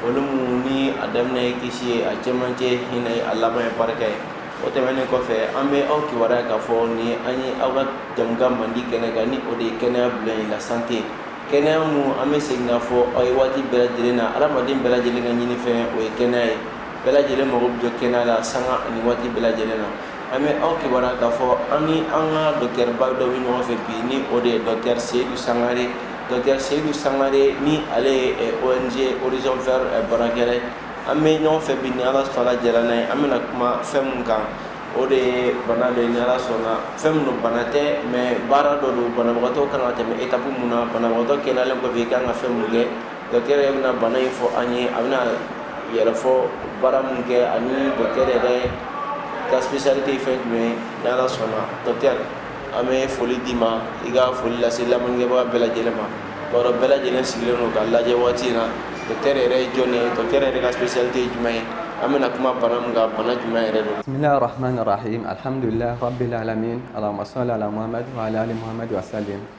foli mun ni a daminɛ ye kisi ye a cɛmancɛ hinɛ ye a laban ye barika ye o tɛmɛnen kɔfɛ an bɛ aw kibaruya k'a fɔ ni an ye aw ka jɛmukan mandi kɛnɛ kan ni o de ye kɛnɛya bulon ye la sante kɛnɛya mun an bɛ segin k'a fɔ aw ye waati bɛɛ lajɛlen na adamaden bɛɛ lajɛlen ka ɲini fɛn o ye kɛnɛya ye bɛɛ lajɛlen mago bɛ jɔ kɛnɛya la sanga ani waati bɛɛ lajɛlen na an bɛ aw kibaruya k'a fɔ an ni an ka dɔkitɛriba dɔ bɛ ɲɔgɔn fɛ bi ni o de ye dɔkitɛri seyidu sangare dɔkitɛri seyidu sangare ni ale ye eh, ong horizon vert eh, baarakɛla ye an bɛ ɲɔgɔn fɛ bi ni ala sɔnna jɛra n'a ye an bɛna kuma fɛn min kan o de ye bana dɔ ye ni ala sɔnna fɛn min don bana tɛ mais baara dɔ don banabagatɔ kan ka tɛmɛ etapu mun na banabagatɔ kɛnɛyalen kɔfɛ i kan ka fɛn mun kɛ Dɔkitɛri yɛrɛ bɛna bana in fɔ an ye a bɛna a yɛrɛ fɔ baara min kɛ ani dɔkitɛri yɛrɛ ka spécialité fɛn mun ye ni ala sɔnna dɔkitɛri an bɛ foli d'i ma i ka foli lase lamɛnbaga bɛɛ lajɛlen ma bari bɛɛ lajɛlen sigilen don ka lajɛ waati in na dɔkitɛri yɛrɛ ye jɔn ye dɔkitɛri yɛrɛ ka spécialité ye jumɛn ye an bɛna kuma bana min kan bana jumɛn yɛrɛ don rahmani rahim alihamdulilahi rabil alamina alamasamadumadu alimadu sa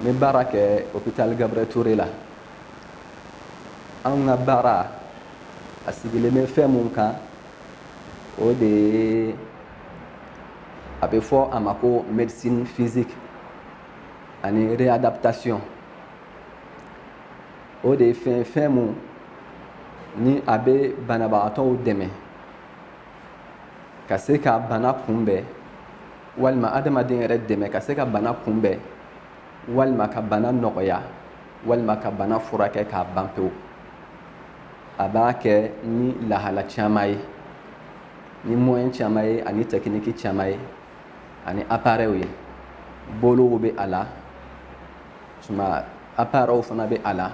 n bɛ baara kɛ hôpital Gabriel Toure la anw ka baara a sigilen bɛ fɛn mun kan o de ye a bɛ fɔ a ma ko médecine physique ani réadaptation o de ye fɛn fɛn mun ni a bɛ banabagatɔw dɛmɛ ka se ka bana kunbɛn walima adamaden yɛrɛ dɛmɛ ka se ka bana kunbɛn walima ka bana nɔgɔya walima ka bana furakɛ k'a ban pewu a b'a kɛ ni lahala caman ye ni moyen caman ye ani tɛkiniki caman ye ani aparɛw ye bolow bɛ a la tuma aparɛw fana bɛ a la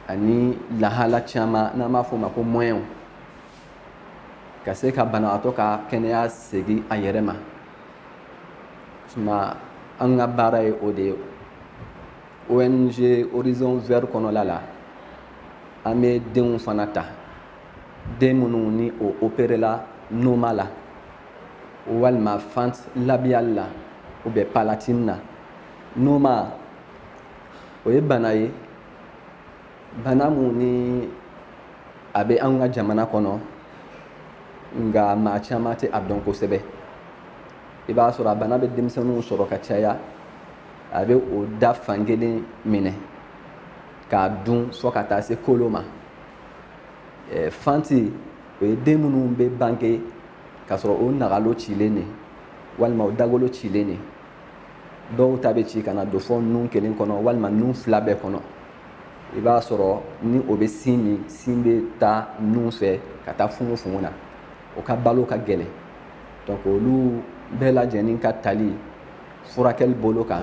ani lahala caman n'an b'a fɔ o ma ko mɔyɛnw ka se ka banabagatɔ ka kɛnɛya segin a yɛrɛ ma tuma an ka baara ye o de ye ong horizon vert kɔnɔla la an bɛ denw fana ta den minnu ni o operela noma la walima fente labiale la ou bien palatine na noma o ye bana ye bana mun ni a bɛ an ka jamana kɔnɔ nka maa caman tɛ a dɔn kosɛbɛ i b'a sɔrɔ a bana bɛ denmisɛnninw sɔrɔ ka caya a bɛ o da fankelen minɛ k'a dun fɔ ka taa se kolo ma eh, fente o ye den minnu bɛ bange k'a sɔrɔ o nagalo cilen de walima o dagolo cilen de dɔw ta bɛ ci ka na don fo nun kelen kɔnɔ walima nun fila bɛɛ kɔnɔ i b'a sɔrɔ ni o bɛ sin min sin bɛ taa nun fɛ ka taa fungofungo na o ka balo ka gɛlɛn donc olu bɛɛ lajɛlen ka tali furakɛli bolo kan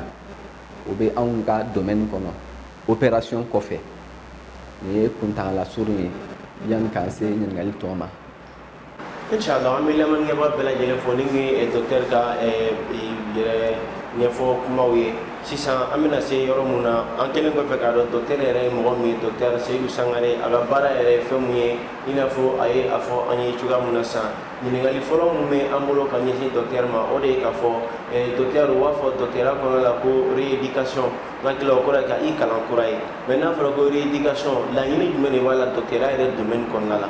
o bɛ anw ka domaine kɔnɔ operation kɔfɛ nin ye kuntagala surun ye yanni k'an se ɲininkali tɔ ma Inchallah an bɛ lamɛnnikɛbaa bɛɛ lajɛlen fo nin ye docteur ka yɛrɛ ɲɛfɔ kumaw ye sisan an bɛna se yɔrɔ min na an kɛlen kɔfɛ k'a dɔn docteur yɛrɛ ye mɔgɔ min ye docteur Seyidu Sangare a ka baara yɛrɛ ye fɛn min ye i n'a fɔ a ye a fɔ an ye cogoya min na sisan ɲininkali fɔlɔ min bɛ an bolo ka ɲɛsin docteur ma o de ye k'a fɔ docteur u b'a fɔ docteurya kɔnɔna la ko rééducation n hakili la o kɔrɔ ye ka i kalan kura ye mais n'a fɔra ko rééducation laɲini jumɛn de b'a la docteurya yɛrɛ domaine kɔnɔna la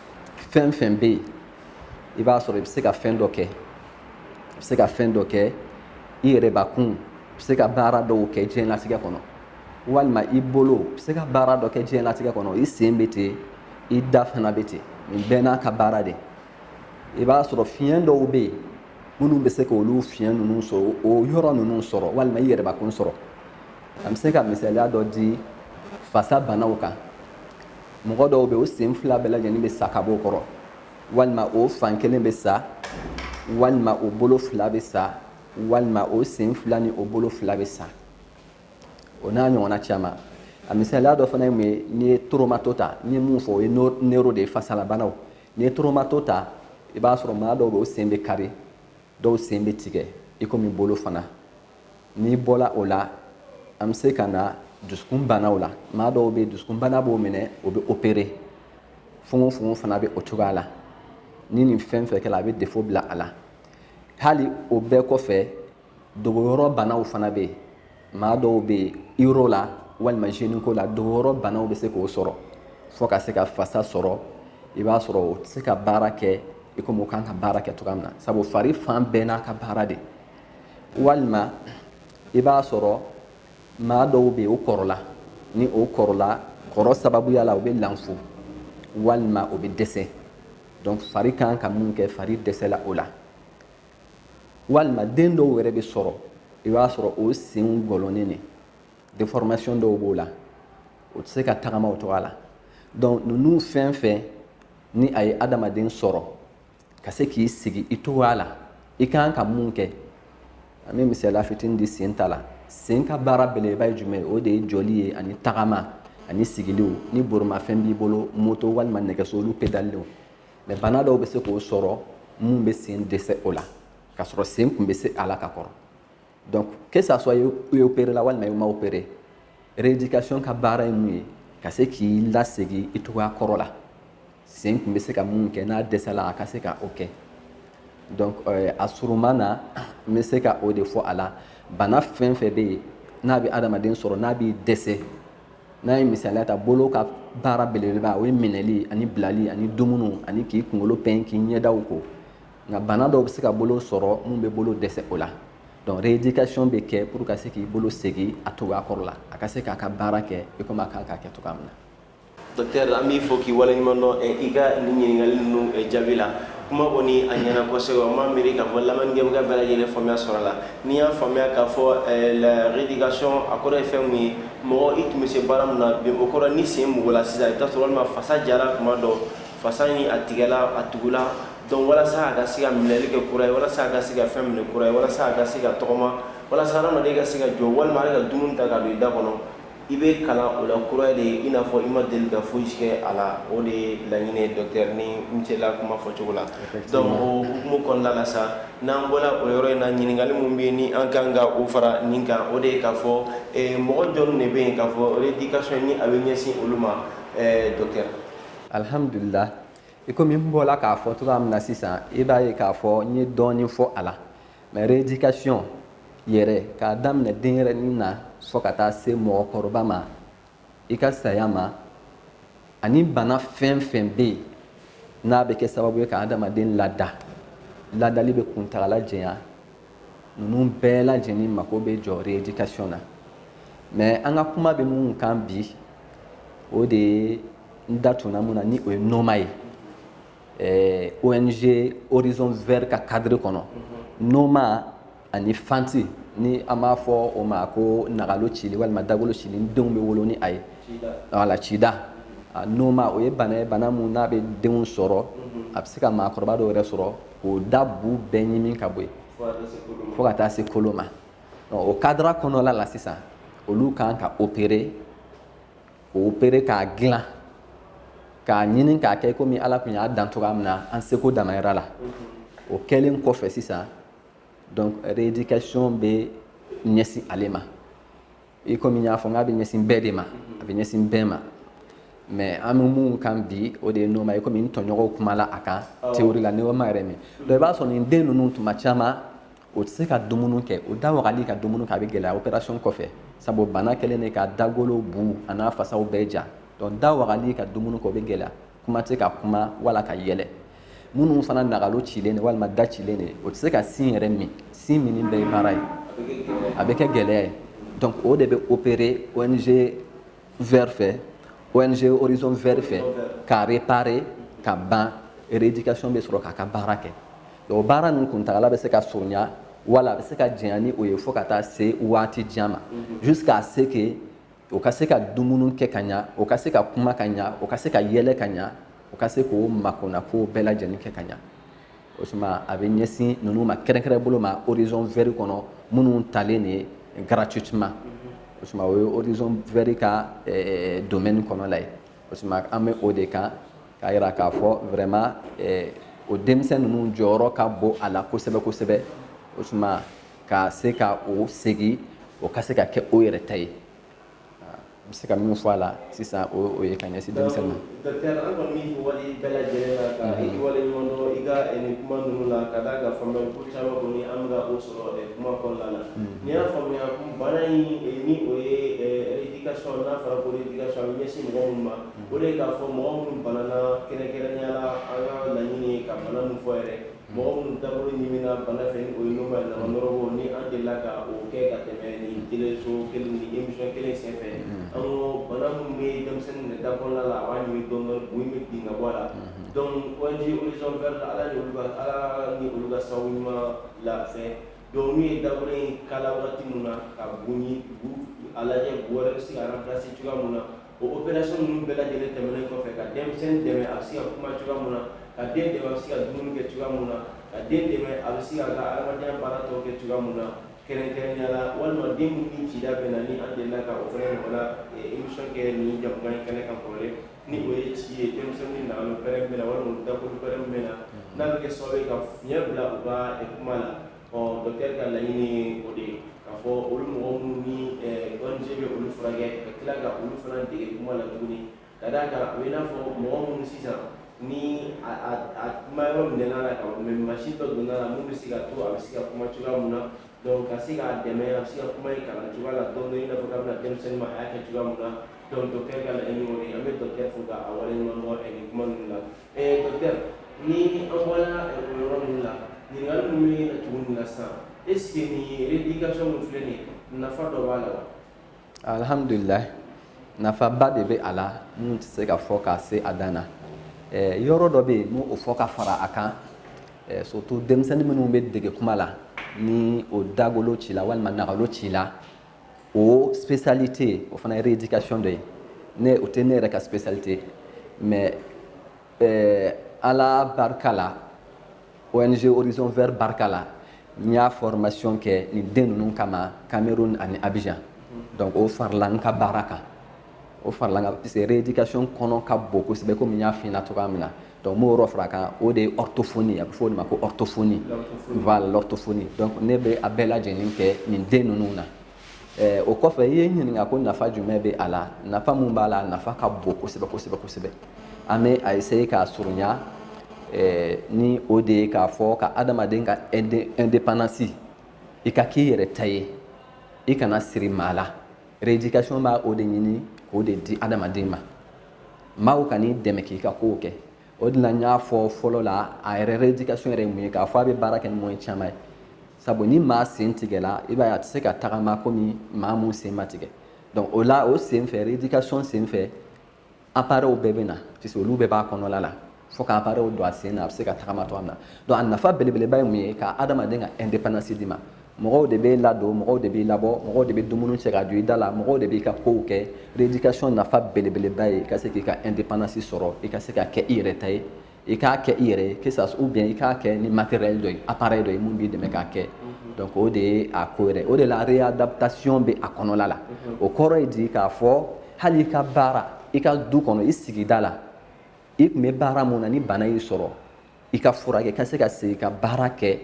fɛn fɛn bɛ yen i b'a sɔrɔ i bɛ se ka fɛn dɔ kɛ i bɛ se ka fɛn dɔ kɛ i yɛrɛbakun i bɛ se ka baara dɔw kɛ diɲɛlatigɛ kɔnɔ walima i bolo i bɛ se ka baara dɔ kɛ diɲɛlatigɛ kɔnɔ i sen bɛ ten i da fana bɛ ten nin bɛɛ n'a ka baara de i b'a sɔrɔ fiɲɛ dɔw bɛ yen minnu bɛ se k'olu fiɲɛ ninnu sɔrɔ o yɔrɔ ninnu sɔrɔ walima i yɛrɛbakun sɔrɔ an bɛ se ka misaliya dɔ di fasa banaw kan mɔgɔ dɔw bɛ o sen fila bɛɛ lajɛlen bɛ sa ka bɔ o kɔrɔ walima o fan kelen bɛ sa walima o bolo fila bɛ sa walima o sen fila ni o bolo fila bɛ sa o n'a ɲɔgɔnna caman a misaliya dɔ fana ye mun ye n'i ye traumato ta n ye mun fɔ o ye neuro de ye fasalabanaw n'i ye traumato ta i b'a sɔrɔ maa dɔw bɛ o sen bɛ kari dɔw sen bɛ tigɛ i komi bolo fana n'i bɔla o la an bɛ se ka na dusukun banaw la maa dɔw bɛ dusukun bana b'o minɛ o bɛ opéré fugofugo fana bɛ o cogoya la ni nin fɛn fɛn kɛra a bɛ défaut bila a la hali o bɛɛ kɔfɛ dogoyɔrɔ banaw fana bɛ yen maa dɔw bɛ yen uro la walima gynéco la dogoyɔrɔ banaw bɛ se k'o sɔrɔ fo ka se ka fasa sɔrɔ i b'a sɔrɔ o tɛ se ka baara kɛ i komi o kan ka baara kɛ cogoya min na sabu fari fan bɛɛ n'a ka baara de walima i b'a sɔrɔ maa dɔw bɛ yen o kɔrɔla ni o kɔrɔla kɔrɔ sababuya la o bɛ lanfo walima o bɛ dɛsɛ donc fari kan ka mun kɛ fari dɛsɛla o la walima den dɔw yɛrɛ bɛ sɔrɔ i b'a sɔrɔ o senw gɔlɔnnen de déformation dɔw b'o la o tɛ se ka tagama o cogoya la donc ninnu fɛn fɛn ni a ye adamaden sɔrɔ ka se k'i sigi i cogoya la i ka kan ka mun kɛ an bɛ misaliya fitini di sen ta la sen ka baara belebeleba ye jumɛn ye o de ye jɔli ye ani tagama ani sigiliw ni borimafɛn b'i bolo moto walima nɛgɛso olu pedaleliw mais bana dɔw bɛ se k'o sɔrɔ mun bɛ sen dɛsɛ o la k'a sɔrɔ sen kun bɛ se a la ka kɔrɔ donc que ça soit i operela walima i ma opere rééducation ka baara ye mun ye ka se k'i lasegin i cogoya kɔrɔ la sen tun bɛ se ka min kɛ n'a dɛsɛla a ka se ka o kɛ donc euh, a surunma na n bɛ se ka o de fɔ a la bana fɛn fɛn bɛ yen n'a bɛ adamaden sɔrɔ n'a b'i dɛsɛ n'an ye misaliya ta bolo ka baara belebeleba o ye minɛli ani bilali ani dumuni ani k'i kunkolo pɛn k'i ɲɛdaw ko nka bana dɔw bɛ se ka bolo sɔrɔ min bɛ bolo dɛsɛ o la donc rééducation bɛ kɛ pour ka se k'i bolo segin a cogoya kɔrɔ la a ka se k'a ka baara kɛ i komi a kan k'a kɛ cogoya min na docteur an b'i fo k'i waleɲuman dɔn eh, i ka nin ɲininkali ninnu eh, jaabi la kuma kɔni a ɲɛna kosɛbɛ n b'a miiri k'a fɔ lamɛnnikɛbaga bɛɛ lajɛlen faamuya sɔrɔ a la n'i y'a faamuya k'a fɔ eh, la rééducation a kɔrɔ ye fɛn min ye mɔgɔ i tun bɛ se baara min na bi o kɔrɔ ni sen mugula sisan i bɛ taa sɔrɔ walima fasa jara tuma dɔ fasa in a tigɛla a tugula donc walasa a ka se ka minɛli kɛ kura ye walasa a ka se ka fɛn minɛ kura ye walasa a ka se ka tɔgɔma walasa hadamaden ka se ka jɔ walima ale ka dumuni ta ka don i da kɔnɔ i bɛ kalan o la kura de ye i n'a fɔ i ma deli ka foyi kɛ a la o de ye laɲini ye dɔkitɛri ni n sela kuma fɔcogo la donc o hukumu kɔnɔna la sa n'an bɔla o yɔrɔ in na ɲininkali min bɛ yen ni an kan ka o fara nin kan o de ye k'a fɔ eh, mɔgɔ jɔnw de bɛ yen k'a fɔ rééducation nin a bɛ ɲɛsin olu ma eh, dɔkitɛri alhamdulillah i komi n bɔla k'a fɔ cogoya min na sisan i b'a ye k'a fɔ n ye dɔɔnin fɔ a la mais rééducation yɛrɛ k'a daminɛ denyɛrɛnin na fo ka taa se mɔgɔkɔrɔba ma i ka saya ma ani bana fɛn fɛn bɛ yen n'a bɛ kɛ sababu ye ka adamaden lada ladali bɛ kuntagala jɛya ninnu bɛɛ lajɛlen mako bɛ jɔ rééducation na mais an ka kuma bɛ min kan bi o de ye n da tun na min na ni o ye noma ye eh, ong horizon vert ka cadre kɔnɔ mhm. noma ani fente ni an b'a fɔ o ma ko nagalo cili walima dagolo cili ni denw bɛ wolo ni a ye wala cida ah, noma o ye bana ye bana min n'a bɛ denw sɔrɔ mhm. a bɛ se ka maakɔrɔba dɔw yɛrɛ sɔrɔ k'o da bu bɛɛ ɲimi ka bɔ yen fo ka taa se kolo ma o cadre kɔnɔla la sisan olu kan ka opere k'o opere k'a dilan k'a ɲini k'a kɛ i komi ala tun y'a dan cogoya min na an seko damayira la o kɛlen kɔfɛ sisan donc rééducation bɛ ɲɛsin ale ma i komi n y'a fɔ n k'a bɛ ɲɛsin bɛɛ de ma a bɛ ɲɛsin bɛɛ ma mais an bɛ min kan bi o de ye noma ye komi n tɔɲɔgɔnw kumala a kan théorie la noma yɛrɛ min donc i b'a sɔrɔ nin den ninnu tuma caman o tɛ se ka dumuni kɛ o da wagali ka dumuni kɛ a bɛ gɛlɛya opération kɔfɛ sabu bana kɛlen de ka dagolo bu an'a fasaw bɛɛ ja donc da wagali ka dumuni kɛ o bɛ gɛlɛya kuma tɛ ka kuma wala ka yɛlɛ minnu fana nagalo cilen de walima da cilen de o tɛ se ka sin yɛrɛ min sin minni bɛɛ ye baara ye a bɛ kɛ gɛlɛya ye donc o de bɛ opérer ONG vert fɛ ONG Horizon vert fɛ ka réparer ka ban rééducation bɛ sɔrɔ k'a ka baara kɛ o baara ninnu kuntagala bɛ se ka surunya wala a bɛ se ka janya ni o ye fo ka taa se waati jan ma mhm. jusqu'à ce que o ka se ka dumuni kɛ ka ɲa o ka se ka kuma ka ɲa o ka se ka yɛlɛ ka ɲa o ka se k'o makona kow bɛɛ lajɛlen kɛ ka ɲa o tuma a bɛ ɲɛsin ninnu ma kɛrɛnkɛrɛn bolo ma Horizon vert kɔnɔ minnu talen de gratuitement o tuma o ye Horizon vert ka eh, domaine kɔnɔ la ye o tuma an bɛ o de kan k'a jira k'a fɔ vraiment eh, o denmisɛn ninnu jɔyɔrɔ ka bon a la kosɛbɛ kosɛbɛ o tuma ka se ka o segin o ka se ka kɛ o yɛrɛ ta ye bɛ se ka min fɔ a la sisan o o ye ka ɲɛsin denmisɛnnin ma. Docteur an kɔni b'i fo wale bɛɛ lajɛlen na ka i wale ɲuman dɔn i ka nin kuma ninnu na ka d'a kan faamuyali ko caman kɔni an bɛ ka o sɔrɔ kuma kɔnɔna na n'i y'a faamuya bana in ni o ye rééducation n'a fɔra ko rééducation a bɛ ɲɛsin mɔgɔ minnu ma o de ye k'a fɔ mɔgɔ minnu banana kɛrɛnkɛrɛnnenya la an ka laɲini ye ka bana min fɔ yɛrɛ Mɔgɔ minnu dabolo ɲiminna bana fɛ ni o ye noma nama nɔrɔbɔ ni an delila ka o kɛ ka tɛmɛ ni teleso kelen ni émission kelen sen fɛ an ko bana minnu bɛ denmisɛnnin minɛ da kɔnɔna la a b'a ɲimi dɔɔni dɔɔni bu in bɛ bin ka bɔ a la donc ONG Horizon vert la Ala ni olu ka Ala ni olu ka sababu ɲuman la fɛn donc n'u ye dabolo in kala waati min na ka bu in lajɛ bu wɛrɛ bɛ se ka remplacer cogoya min na O opération ninnu bɛɛ lajɛlen tɛmɛnen kɔfɛ ka denmisɛnnin dɛmɛ a bɛ se ka kuma cogoya mun na, ka den dɛmɛ a bɛ se ka dumuni kɛ cogoya mun na, ka den dɛmɛ a bɛ se ka a ka adamadenya baara tɔw kɛ cogoya mun na kɛrɛnkɛrɛnnenya la, walima den minnu ni cida bɛ na ni an delila ka o fana ɲɔgɔnna émission kɛ nin jɛmukan in kɛnɛ kan kɔrɔlen ni o ye ci ye denmisɛnninw ni nagalo pɛrɛnnen bɛ na walima u dakun pɛrɛnnen bɛ na n'a bɛ kɛ sababu ye ka fiɲɛ bila u ka kuma na. ɔ docteur ka laɲini o de ye k'a fɔ olu mɔgɔ minnu ni ONG bɛ olu furakɛ ka tila ka olu fana dege kuma la tuguni ka d'a kan o ye n'a fɔ mɔgɔ minnu sisan ni a kuma yɔrɔ minɛna a la ka mɛ masin dɔ donna a la mun bɛ se ka to a bɛ se ka kuma cogoya mun na donc ka se k'a dɛmɛ a bɛ se ka kuma in kalan cogoya la dɔɔni i n'a fɔ k'a bɛna denmisɛnnin ma a y'a kɛ cogoya mun na donc docteur ka laɲini o de ye an bɛ docteur fo k'a waleɲuman dɔn nin kuma ninnu la Alihamdulila nafaba de bɛ a la min tɛ se ka fɔ ka se a dan na yɔrɔ dɔ bɛ yen n'o fɔ ka fara a kan surtout denmisɛnnin minnu bɛ dege kuma la ni o dagolo cila walima nagalo cila o spécialité o fana ye rééducation dɔ ye ne o tɛ ne yɛrɛ ka spécialité mais euh, ala barika la ONG Horizon Vert barika la n y'a formation kɛ nin den ninnu kama Cameroun ani Abidjan donc o farala n ka baara kan o farala n ka parce que rééducation kɔnɔ ka bon kosɛbɛ komi n y'a f'i ɲɛna cogoya min na donc n b'o yɔrɔ fara a kan o de ye orthophonie a bɛ fɔ o de ma ko orthophonie voilà l'orthophonie donc ne bɛ a bɛɛ lajɛlen kɛ nin den ninnu na ɛɛ o kɔfɛ i ye n ɲininka ko nafa jumɛn bɛ a la nafa min b'a la a nafa ka bon kosɛbɛ kosɛbɛ kosɛbɛ an bɛ a essayer k'a surunya ɛɛ ni o de ye k'a fɔ ka adamaden ka indépendance i ka k'i yɛrɛ ta ye i kana siri maa la rééducation b'a o de ɲini k'o de di adamaden ma maaw ka n'i dɛmɛ k'i ka kow kɛ o de la n y'a fɔ fɔlɔ la a yɛrɛ rééducation yɛrɛ ye mun ye k'a fɔ a bɛ baara kɛ ni moyen caman ye sabu ni maa sen tigɛla i b'a ye a tɛ se ka tagama komi maa mun sen ma tigɛ donc o la o sen fɛ rééducation sen fɛ appareils bɛɛ bɛ na puisque olu bɛɛ b'a kɔnɔla la fo ka appareil don a sen na a bɛ se ka tagama cogoya min na donc a nafa belebeleba ye mun ye ka adamaden ka indépendance d'i ma mɔgɔw de b'i ladon mɔgɔw de b'i labɔ mɔgɔw de bɛ dumuni cɛ ka don i da la mɔgɔw de b'i ka kow kɛ rééducation nafa belebeleba ye i ka se k'i ka indépendance sɔrɔ i ka se ka kɛ i yɛrɛ ta ye i k'a kɛ i yɛrɛ ye que ça ou bien i k'a kɛ ni matériel dɔ ye appareil dɔ ye mun b'i dɛmɛ k'a kɛ donc o de ye a ko yɛrɛ o de la réadaptation bɛ a kɔnɔla la o kɔrɔ ye di k'a fɔ hali i ka baara i ka du kɔnɔ i sigida la i tun bɛ baara mun na ni bana y'i sɔrɔ i ka furakɛ ka se ka segin ka baara kɛ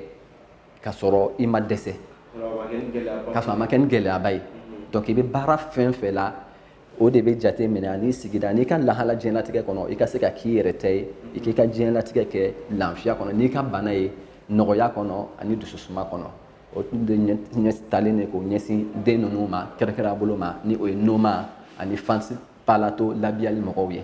ka sɔrɔ i ma dɛsɛ ka sɔrɔ a ma kɛ ni gɛlɛyaba ye donc i bɛ baara fɛn fɛn la o de bɛ jate minɛ ani sigida n'i ka lahala diɲɛlatigɛ kɔnɔ i ka se ka k'i yɛrɛ ta ye i k'i ka diɲɛlatigɛ kɛ lafiya kɔnɔ n'i ka bana ye nɔgɔya kɔnɔ ani dususuma kɔnɔ o de ɲɛ talen de k'o ɲɛsin den ninnu ma kɛrɛkɛrɛnya bolo ma ni o ye noma ani fente palato labiale mɔgɔw ye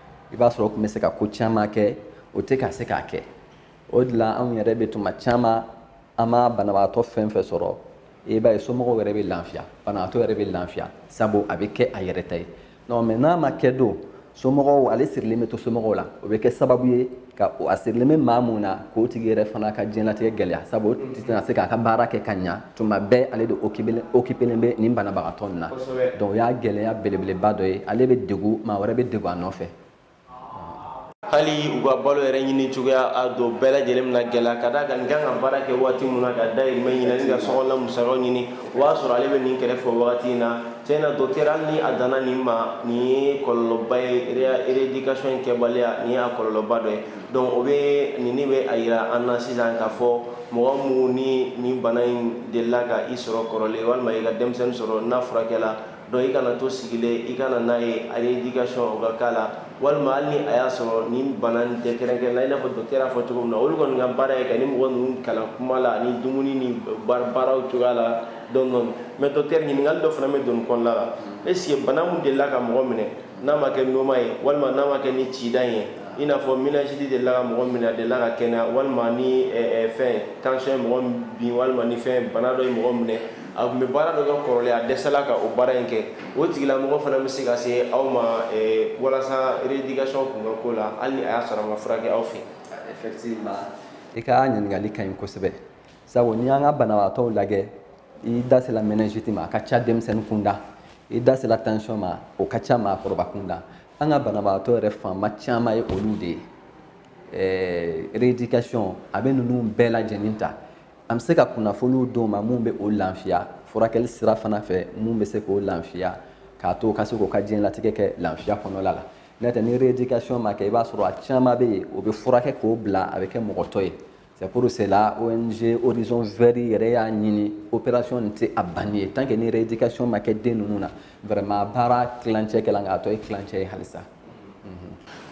i b'a sɔrɔ o tun bɛ se ka ko caman kɛ o tɛ ka se k'a kɛ o de la anw yɛrɛ bɛ tuma caman an ma banabagatɔ fɛn fɛn sɔrɔ i b'a ye somɔgɔw yɛrɛ bɛ lafiya banabagatɔ yɛrɛ bɛ lafiya sabu a bɛ kɛ a yɛrɛ ta ye non mais n'a ma kɛ don somɔgɔw ale sirilen bɛ to somɔgɔw la o bɛ kɛ sababu ye ka o a sirilen bɛ maa mun na k'o tigi yɛrɛ fana ka diɲɛlatigɛ gɛlɛya sabu a tɛna se k'a ka baara kɛ ka ɲa tuma bɛɛ ale de okipelen bɛ nin banabagatɔ nin na donc o y'a gɛlɛya belebeleba dɔ ye ale bɛ dɛgun maa wɛrɛ bɛ dɛgun a nɔfɛ hali u ka balo yɛrɛ ɲini cogoya a don bɛɛ lajɛlen na gɛlɛya ka d'a kan nin kan ka baara kɛ waati min na ka dayirimɛ ɲini ani ka sokɔnɔla musakaw ɲini o b'a sɔrɔ ale bɛ nin kɛrɛfɛ wagati in na tiɲɛ na docteur hali ni a danna nin ma nin ye kɔlɔlɔba ye rééducation in kɛbaliya nin y'a kɔlɔlɔba dɔ ye donc o bɛ nin in bɛ a yira an na sisan k'a fɔ mɔgɔ minnu ni nin bana in delila ka i sɔrɔ kɔrɔlen walima i ka denmisɛnnin sɔrɔ n'a furakɛla Donc i kana to sigilen i ka na n'a ye rééducation o ka kɛ a la walima hali ni a y'a sɔrɔ nin bana tɛ kɛrɛnkɛrɛnnen i n'a fɔ docteur y'a fɔ cogo min na olu kɔni ka baara ye ka ni mɔgɔ ninnu kalan kuma la ani dumuni ni baaraw cogoya la donc mais docteur ɲininkali dɔ fana bɛ don kɔnɔnada la est-ce que bana min delila ka mɔgɔ minɛ n'a ma kɛ noma ye walima n'a ma kɛ ni cida ye i n'a fɔ meningite delila ka mɔgɔ min delila ka kɛnɛ walima ni fɛn tension ye mɔgɔ bin walima ni fɛn bana dɔ ye mɔgɔ minɛ a tun bɛ baara dɔ kɛ kɔrɔlen a dɛsɛla ka o baara in kɛ o tigilamɔgɔ fana bɛ se ka se aw ma eh, walasa rééducation tun ka k'o la hali ni a y'a sɔrɔ a ma furakɛ aw fɛ effectivement i ka ɲininkali ka ɲi kosɛbɛ sabu n'i y'an ka banabagatɔw lajɛ i da sela meningite ma a ka ca denmisɛnnin kunda i da sela tension ma o ka ca maakɔrɔba kunda an ka banabagatɔ yɛrɛ fanba caman ye olu de ye eh, rééducation a bɛ ninnu bɛɛ lajɛlen ta an bɛ se ka kunnafoniw d'o ma mun bɛ o lafiya furakɛli sira fana fɛ mun bɛ se k'o lafiya k'a to ka se k'o ka diɲɛlatigɛ kɛ lafiya kɔnɔla la n'o tɛ ni rééducation ma kɛ i b'a sɔrɔ a caman bɛ yen o bɛ furakɛ k'o bila a bɛ kɛ mɔgɔtɔ ye c'est pour cela ONG Horizon Vert yɛrɛ y'a ɲini opération nin tɛ a banni ye tant que ni rééducation ma kɛ den ninnu na vraiment baara tilancɛ kɛla nka a tɔ ye tilancɛ ye halisa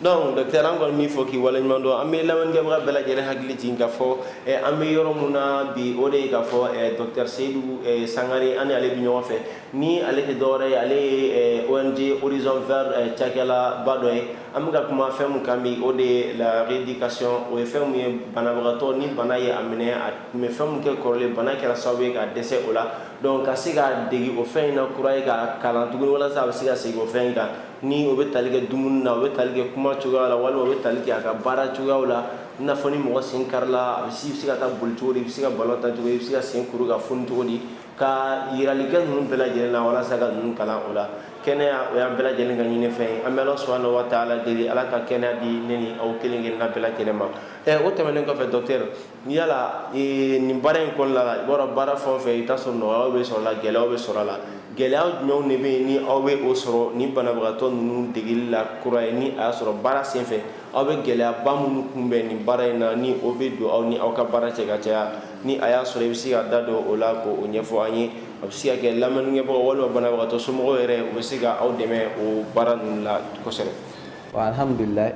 donc docteur an kɔni b'i fo k'i waleɲuman dɔn an bɛ lamɛnnikɛbaga bɛɛ lajɛlen hakili jigin k'a fɔ eh, an bɛ yɔrɔ min na bi o de ye k'a fɔ eh, docteur seyidu eh, sangare an ni ale bɛ ɲɔgɔn fɛ ni ale tɛ dɔwɛrɛ ye ale ye ong horizon vert cakɛlaba dɔ ye an bɛ ka kuma fɛn min kan bi o de ye la rééducation o ye fɛn min ye banabagatɔ ni bana ye a minɛ a tun bɛ fɛn min kɛ kɔrɔlen bana kɛra sababu ye k'a dɛsɛ o la donc ka se k'a dege o fɛn in na kura ye k'a kalan tuguni walasa a bɛ se ka segin o fɛn in kan ni o bɛ tali kɛ dumuni na o bɛ tali kɛ kuma cogoya la walima o bɛ tali kɛ a ka baara cogoyaw la i n'a fɔ ni mɔgɔ sen karila a bɛ se i bɛ se ka taa boli cogo di i bɛ se ka balon ta cogo di i bɛ se ka sen kuru ka foni cogo di ka yirali kɛ ninnu bɛɛ lajɛlen na walasa ka ninnu kalan o la kɛnɛya o y'an bɛɛ lajɛlen ka ɲini fɛn ye an bɛ ala subahana wa taala deli ala ka kɛnɛya di ne ni aw kelen kelen na bɛɛ lajɛlen ma ɛ o tɛmɛnen kɔfɛ docteur Ni yala nin baara in kɔnɔna la i b'a baara fan fɛ i b'a sɔrɔ nɔgɔya bɛ sɔrɔ a la gɛlɛya bɛ sɔrɔ a la gɛlɛya jumɛn de bɛ yen ni aw bɛ o sɔrɔ ni banabagatɔ ninnu degeli la kura ye ni a y'a sɔrɔ baara senfɛ aw bɛ gɛlɛyaba minnu kunbɛn nin baara in na ni o bɛ don aw ni aw ka baara cɛ ka caya ni a y'a sɔrɔ i bɛ se ka da don o la k'o ɲɛfɔ an ye a bɛ se ka kɛ lamɛnkɛbagaw walima banabagatɔ somɔgɔw yɛrɛ u bɛ se ka aw dɛmɛ o baara ninnu la kosɛbɛ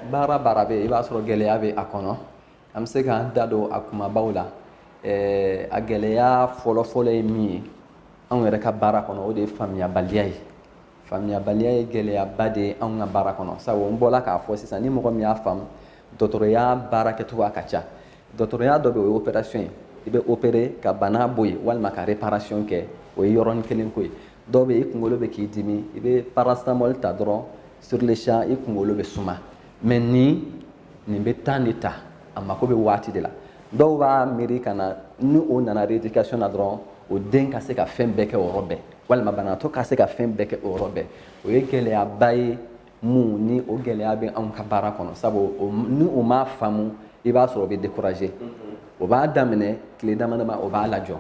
baara baara bɛ i b'a sɔrɔ gɛlɛya bɛ a kɔnɔ an bɛ se k'an da don a kunbabaw la eh, a gɛlɛya fɔlɔfɔlɔ ye min ye anw yɛrɛ ka baara kɔnɔ o de ye faamuyabaliya ye faamuyabaliya ye gɛlɛyaba de ye anw ka baara kɔnɔ sabu n bɔla k'a fɔ sisan ni mɔgɔ min y'a faamu dɔgɔtɔrɔya baara kɛcogoya ka ca dɔgɔtɔrɔya dɔ bɛ o ye opération ye i bɛ opérer ka bana bɔ yen walima ka réparation kɛ o ye yɔrɔnin kelen ko ye dɔw bɛ i kunkolo bɛ k'i dimi i bɛ paracetamol ta dɔrɔn sur le champ i kunkolo bɛ suma mais nin nin bɛ temps de ta a mako bɛ waati de la dɔw b'a miiri ka na ni o nana rééducation na dɔrɔn o den ka se ka fɛn bɛɛ kɛ o yɔrɔ bɛɛ walima banabaatɔ ka se ka fɛn bɛɛ kɛ o yɔrɔ bɛɛ o ye gɛlɛyaba ye mun ni o gɛlɛya bɛ anw ka baara kɔnɔ sabu ni o m'a faamu i b'a sɔrɔ o bɛ décourager o b'a daminɛ tile dama dama o b'a lajɔ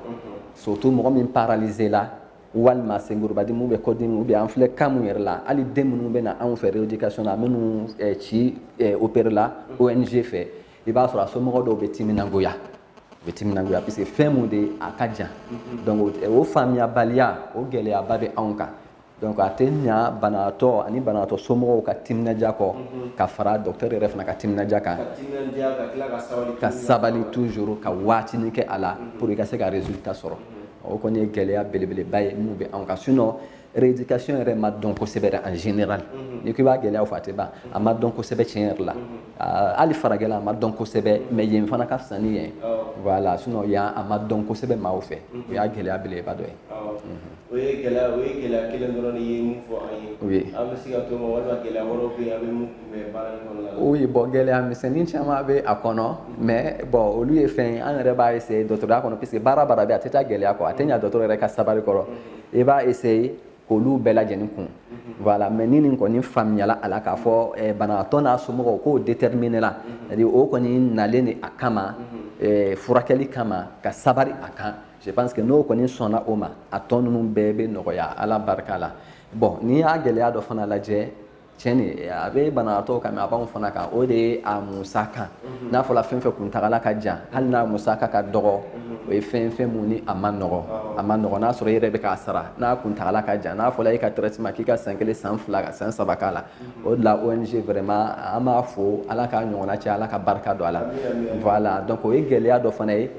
surtout mɔgɔ min paralyser la walima senkurubadimi bɛ kɔdimi ou bien an filɛ cas mun yɛrɛ la hali den minnu bɛ na anw fɛ rééducation na minnu eh, ci eh, opérer la ONG fɛ i b'a sɔrɔ a somɔgɔ dɔw bɛ timinangoya u bɛ timinangoya parce que fɛn mun de a ka jan donc o faamuyabaliya o gɛlɛyaba bɛ anw kan donc a tɛ ɲa banaatɔ ani banaatɔ somɔgɔw ka timinadiya kɔ ka fara docteur yɛrɛ fana ka timinadiya kan ka sabali toujours ka waatini kɛ a la pour i ka se ka résultat sɔrɔ o kɔni ye gɛlɛya belebeleba ye min bɛ anw kan sinon rééducation yɛrɛ ma dɔn kosɛbɛ dɛ en général n'i ko i b'a gɛlɛyaw fɔ a tɛ ban a ma dɔn kosɛbɛ tiɲɛ yɛrɛ la hali farajɛla a ma dɔn kosɛbɛ mais yen fana ka fisa ni yan voilà sinon yan a ma dɔn kosɛbɛ maaw fɛ o y'a gɛlɛya belebeleba dɔ ye O ye gɛlɛya o ye gɛlɛya kelen dɔrɔn de ye min fɔ an ye oui an bɛ se ka to o ma walima gɛlɛya wɛrɛw bɛ yen aw bɛ min kunbɛn baara in kɔnɔna la oui bon gɛlɛya misɛnnin caman bɛ a kɔnɔ mais bon olu ye fɛn ye an yɛrɛ b'a essayer dɔgɔtɔrɔya kɔnɔ puisque baara baara bɛ a tɛ taa gɛlɛya kɔ a tɛ ɲa dɔgɔtɔrɔ yɛrɛ ka sabari kɔrɔ i b'a essayer k'olu bɛɛ lajɛlen kun voilà mais ni nin kɔni faamuyala a la k'a fɔ eh, banabaatɔ n'a somɔgɔw k'o déterminer la c'est à dire o kɔni nalen de a kama eh, furakɛli kama ka sabari a kan je pense que n'o kɔni sɔnna o ma a tɔ ninnu bɛɛ bɛ nɔgɔya ala barika la bon n'i y'a gɛlɛya dɔ fana lajɛ tiɲɛ de a bɛ banabagatɔ kan mɛ a b'anw fana kan o de ye a musaka mhm. n'a fɔra fɛn fɛn kuntagala ka jan hali n'a musaka ka dɔgɔ mhm. o ye fɛn fɛn mun ni a ma nɔgɔ a ma nɔgɔ n'a sɔrɔ i yɛrɛ bɛ k'a sara n'a kuntagala ka jan n'a fɔra e ka traitement k'i ka san kelen san fila ka san saba k'a la mhm. o de la ONG vraiment an b'a fo ala k'a ɲɔgɔnna caya ala ka barika don a la voilà donc o ye gɛlɛya dɔ fana ye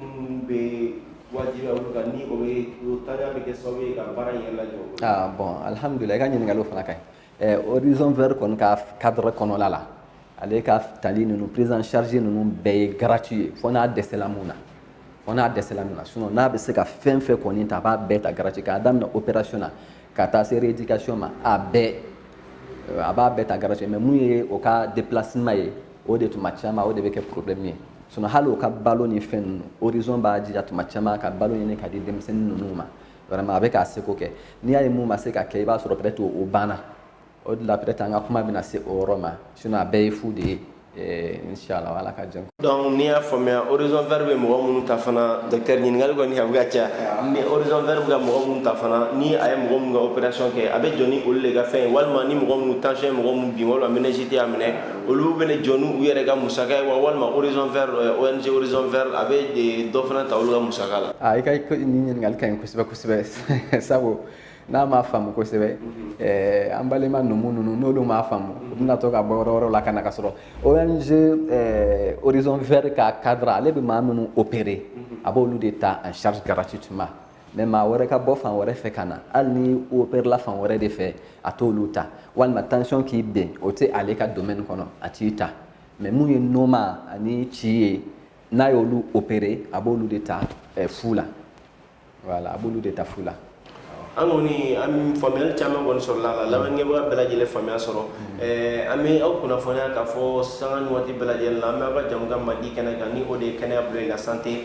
minnu bɛ wajibi olu kan ni o bɛ o ntanya bɛ kɛ sababu ye ka baara in yɛrɛ lajɔ. ah bon alihamudulila i ka ɲininkaliw fana ka ɲi ɛɛ horizon vert kɔni ka cadre kɔnɔla la ale ka tali ninnu prise en charge ninnu bɛɛ ye gratuit ye fo n'a dɛsɛla mun na fo n'a dɛsɛla mun na sinon n'a bɛ se ka fɛn fɛn kɔni ta a b'a bɛɛ ta gratuit k'a daminɛ opération na ka taa se rééducation ma a bɛɛ a b'a bɛɛ ta gratuit mais mun ye o ka déplacement ye o de tuma caman o de bɛ kɛ problème ye sinon hali u ka balo ni fɛn ninnu horizon b'a jija tuma caman ka balo ɲini ka di denmisɛnnin ninnu ma vraiment a bɛ k'a seko kɛ n'i y'a ye mun ma se ka kɛ i b'a sɔrɔ peut-être o banna o de la peut-être an ka kuma bɛna se o yɔrɔ ma sinon a bɛɛ ye fu de ye eh, inshallah ala ka jɛn donc n'i y'a faamuya horizon vert bɛ mɔgɔ minnu ta fana docteur ɲininkali kɔni a bɛ ka caya ni horizon vert bɛ ka mɔgɔ minnu ta fana ni a ye mɔgɔ minnu ka opération kɛ a bɛ jɔ ni olu de ka fɛn ye walima ni mɔgɔ minnu tension ye mɔgɔ minnu bin walima meningite y'a minɛ olu bɛna jɔ n'u yɛrɛ ka musaka ye wa walima horizon vert euh, ONG horizon vert a bɛ euh, dɔ fana ta olu ka musaka la. aa ah, i ka nin ɲininkali ka ɲi kosɛbɛ kosɛbɛ sabu n'an m'a faamu kosɛbɛ mhm. eh, an balima numu ninnu n'olu m'a faamu u bɛna to ka bɔ yɔrɔ wɛrɛw la ka na k'a sɔrɔ ONG eh, horizon vert ka cadre ale bɛ maa minnu opérer mhm. a b'olu de ta en charge gratuitement. mais maa wɛrɛ ka bɔ fan wɛrɛ fɛ ka na hali n'i operela fan wɛrɛ de fɛ a t'olu ta walima tension k'i bin o tɛ ale ka domaine kɔnɔ a t'i ta mais mun ye noma ani ci ye n'a y'olu opere a b'olu de ta eh, fu la voilà a b'olu de ta fu la an kɔni an faamuyali caman kɔni sɔrɔla a la lamɛnnikɛbaga bɛɛ lajɛlen faamuya sɔrɔ mm-hmm. an bɛ aw kunnafoniya k'a fɔ sanga ni waati bɛɛ lajɛlen la an bɛ aw ka jɛmukan mandi kɛnɛ kan ni o de ye kɛnɛya bila i la santé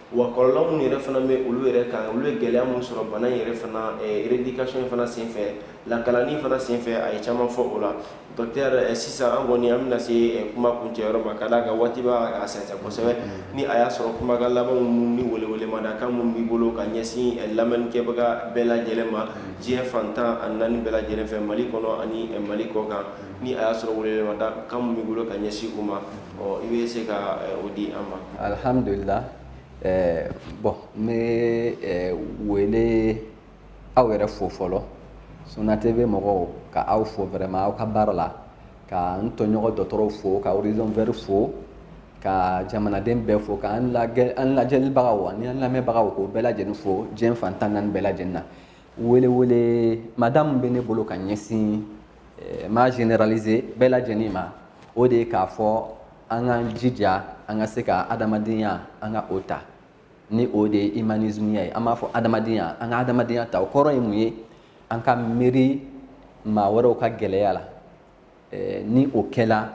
wa kɔlɔlɔ minnu yɛrɛ fana bɛ olu yɛrɛ kan olu ye gɛlɛya minnu sɔrɔ bana in yɛrɛ fana eh, rééducation fana senfɛ lakalanni fana senfɛ a ye caman fɔ o la docteur eh, sisan an kɔni an bɛna se eh, kuma kuncɛyɔrɔ ma ka d'a kan waati bɛ ka sɛnsɛn kosɛbɛ mm-hmm. ni a y'a sɔrɔ kumakan labanw minnu ni welewelemadakan minnu b'i bolo ka ɲɛsin lamɛnnikɛbaga bɛɛ lajɛlen ma mm-hmm. diɲɛ fan tan ni naani bɛɛ lajɛlen fɛ mali kɔnɔ ani mali kɔkan mm-hmm. ni a y'a sɔrɔ welewelemadakan minnu b'i bolo ka ɲɛsin u ma Ɔ i bɛ se ka o di an ma alihamdulila ɛɛ bon n bɛ ɛɛ wele aw yɛrɛ fo fɔlɔ Suna TV mɔgɔw ka aw fo vraiment aw ka baara la ka n tɔɲɔgɔn dɔgɔtɔrɔw fo ka Horizon Vert fo ka jamanaden bɛɛ fo ka an lagɛ an lajɛlibagaw ani an lamɛnbagaw k'o bɛɛ lajɛlen fo diɲɛ fan tan naani bɛɛ lajɛlen na wele welemada min bɛ ne bolo ka ɲɛsin eh, m'a généraliser bɛɛ lajɛlen ma o de ye k'a fɔ an k'an jija an ka se ka adamadenya an ka o ta ni o de ye humanismeya ye an b'a fɔ adamadenya an ka adamadenya ta o kɔrɔ ye mun ye an ka miiri maa wɛrɛw ka gɛlɛya la eh, ni o kɛla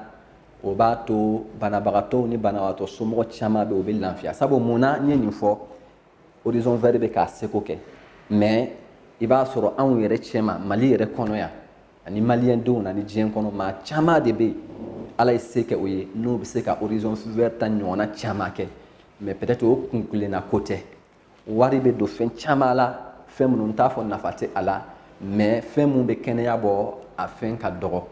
o b'a to banabagatɔw ni banabagatɔ somɔgɔ caman bɛ o bɛ lafiya sabu mun na n ye nin fɔ horizon vert bɛ k'a seko kɛ mais i b'a sɔrɔ anw yɛrɛ cɛma mali yɛrɛ kɔnɔ yan ani maliyɛn denw na ni diɲɛ kɔnɔ maa caman de bɛ yen ala ye se kɛ o ye n'o bɛ se ka horizon vert ta ɲɔgɔnna caman kɛ mais peut-être o kunkelenna ko tɛ wari bɛ don fɛn caman la fɛn minnu n t'a fɔ nafa tɛ a la mais fɛn min bɛ kɛnɛya bɔ a fɛn ka dɔgɔ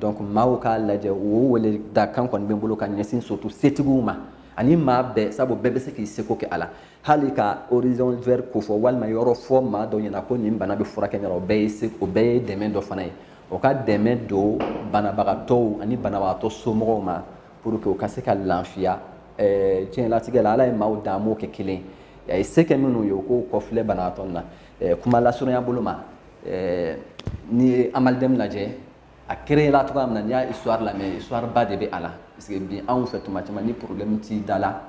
donc maaw k'a lajɛ o wele da kan kɔni bɛ n bolo ka ɲɛsin surtout setigiw ma ani maa bɛɛ sabu bɛɛ bɛ se k'i seko kɛ a la hali ka horizon vert ko fɔ walima yɔrɔ fɔ maa dɔ ɲɛna ko nin bana bɛ furakɛ ɲɛna o bɛɛ ye se o bɛɛ ye dɛmɛ dɔ fana ye o ka dɛmɛ don banabagatɔw ani banabagatɔ somɔgɔw ma pour que u ka se ka lafiya diɲɛlatigɛ la ala ye maaw dan a m'o kɛ kelen ye a ye se kɛ minnu ye u k'u kɔfilɛ banabagatɔ na kuma lasurunya bolo ma n'i ye AMALDEME lajɛ a créer la cogoya min na n'i y'a histoire lamɛn histoire ba de bɛ a la parce que bi anw fɛ tuma caman ni problème t'i da la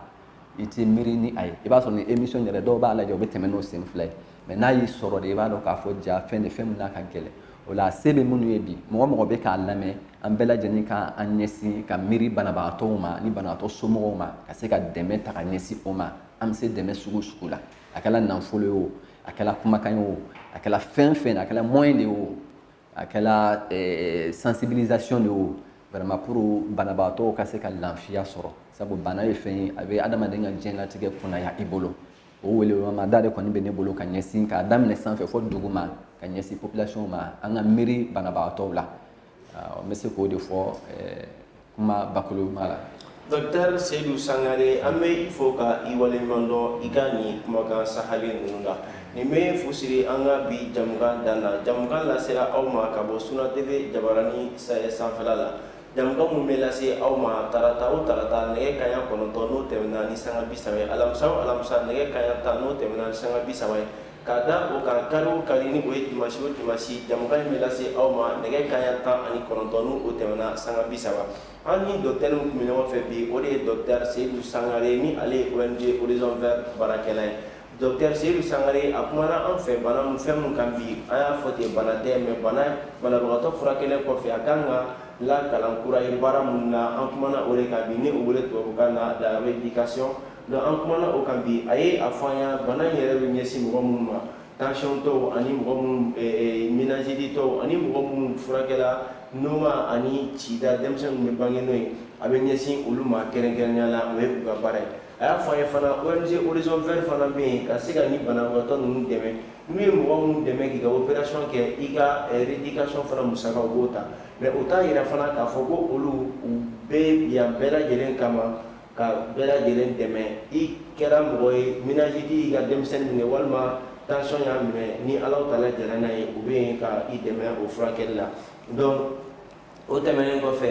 i t'i miiri ni a ye i b'a sɔrɔ nin émission yɛrɛ dɔw b'a lajɛ u bɛ tɛmɛ n'o sen fila ye mais n'a y'i sɔrɔ de i b'a dɔn k'a fɔ jaa fɛn de fɛn min n'a ka gɛlɛn o la se bɛ minnu ye bi mɔgɔ mɔgɔ bɛ k'an lamɛn an bɛɛ lajɛlen ka an ɲɛsin ka miiri banabagatɔw ma ni banabagatɔ somɔgɔw ma ka se ka dɛmɛ ta ka ɲɛsin o ma an bɛ se dɛmɛ sugu sugu la a kɛra nafolo ye o a kɛra kumakan ye o a kɛra fɛn fɛn a kɛra moyen de ye o a kɛra eh, sensibilisation de ye o vraiment pour banabaatɔw ka se ka lafiya sɔrɔ sabu bana ye fɛn ye a bɛ adamaden ka diɲɛlatigɛ kunaya i bolo o welemada de kɔni bɛ ne bolo ka ɲɛsin k'a daminɛ sanfɛ fo duguma ka ɲɛsin population ma an ka miiri banabaatɔw la n bɛ se k'o de fɔ eh, kuma bakurunba la. Docteur Seyidu Sangare an bɛ i fo ka i waleɲuman dɔn i ka nin kumakan sahalen ninnu la nin bɛ fusiri an ka bi jamukan dan na jamukan lasera aw ma ka bɔ Suna TV jabaranin sahɛ sanfɛla la jamukan min bɛ lase aw ma tarata o tarata nɛgɛ kanɲɛ kɔnɔntɔn n'o tɛmɛna ni sanga bi saba ye alamisa o alamisa nɛgɛ kanɲɛ tan n'o tɛmɛna ni sanga bi saba ye Ka da o kan kari o kari ni o ye dimanche o dimanche jɛmukan in bɛ lase aw ma nɛgɛ kanɲɛ tan ani kɔnɔntɔn ni o tɛmɛna sanga bi saba an ni docteur min tun bɛ ɲɔgɔn fɛ bi o de ye docteur Seyidu Sangare ni ale ye ONG Horizon Vert baarakɛla ye docteur Seyidu Sangare a kumana an fɛ bana min fɛn min kan bi an y'a fɔ ten bana tɛ mais bana banabagatɔ furakɛlen kɔfɛ a kan ka lakalan kura ye baara minnu na an kumana o de kan bi ni o wele tubabukan na la rééducation Nka an kumana o kan bi, a ye a fɔ an ye bana in yɛrɛ bɛ ɲɛsin mɔgɔ minnu ma, tension tɔw ani mɔgɔ minnu ɛɛ meningite tɔw ani mɔgɔ minnu furakɛla noma ani cida denmisɛn minnu bɛ bange n'o ye, a bɛ ɲɛsin olu ma kɛrɛnkɛrɛnnenya la, o ye u ka baara ye. A y'a fɔ an ye fana ONG Horizon Vert fana bɛ yen ka se ka nin banabagatɔ ninnu dɛmɛ, n'u ye mɔgɔ minnu dɛmɛ k'i ka operation kɛ, i ka reeducation fana musaka u b'o ta mais o t'a jira fana k'a fɔ ko olu u bɛ yan bɛɛ lajɛlen kama. ka bɛɛ lajɛlen dɛmɛ i kɛra mɔgɔ ye minajiti y'i ka denmisɛnnin minɛ walima tansɔn y'a minɛ ni ala tala jɛra n'a ye u bɛ yen ka i dɛmɛ o furakɛli la donc o tɛmɛnen kɔfɛ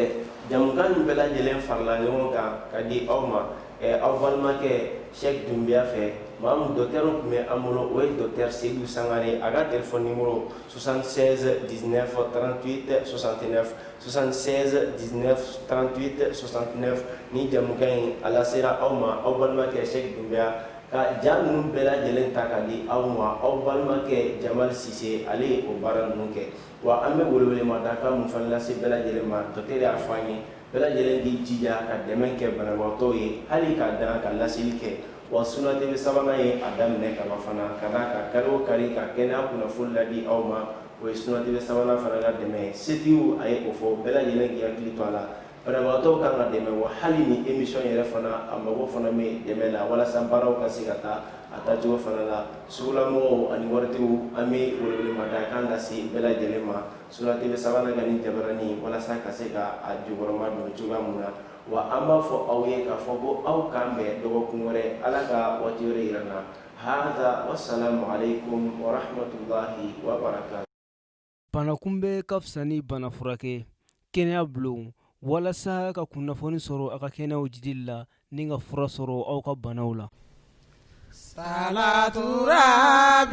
jamukan nin bɛɛ lajɛlen farala ɲɔgɔn kan ka di aw ma aw balimakɛ sɛk dunbiya fɛ maa min dɔtɛri tun bɛ an bolo o ye dɔtɛri seyidu sangare a ka telefɔni nimoro 76 19 38 69 76 19 38 69 nin jamukan in a lasera aw ma aw balimakɛ Sɛki Dunbiya ka ja ninnu bɛɛ lajɛlen ta ka di aw ma aw balimakɛ Jamali Sise ale ye o baara ninnu kɛ wa an bɛ welewelemada kan min fana lase bɛɛ lajɛlen ma docteur y'a fɔ an ye bɛɛ lajɛlen k'i jija ka dɛmɛ kɛ banabagatɔw ye hali ka dan ka laseli kɛ wa Sunna TV Savana ye a daminɛ kaban fana ka d'a kan kari o kari ka kɛnɛya kunnafoni ladi aw ma o ye Sunna TV Savana fana ka dɛmɛ ye setigiw a ye o fɔ bɛɛ lajɛlen k'i hakili to a la banabagatɔw kan ka dɛmɛ wa hali ni emisɔn yɛrɛ fana a mago fana bɛ dɛmɛ la walasa baaraw ka se ka taa a taacogo fana la sugulamɔgɔw ani waritigiw an bɛ welewelemada kan ka se bɛɛ lajɛlen ma Sunna TV Savana ka nin jabaranin walasa ka se ka a jukɔrɔmadon cogoya min na wa an b'a fɔ aw ye k'a fɔ ko aw k'an bɛn dɔgɔkun wɛrɛ ala ka waati wɛrɛ yira an na hadha wassalamu alaikum warahmatullahi wabarakatu. Banakunbɛn ka fisa ni bana furakɛ kɛnɛya bulon walasa ka kunnafoni sɔrɔ aw ka kɛnɛya jiidili la ni ka fura sɔrɔ aw ka banaw la. Salaturaabi!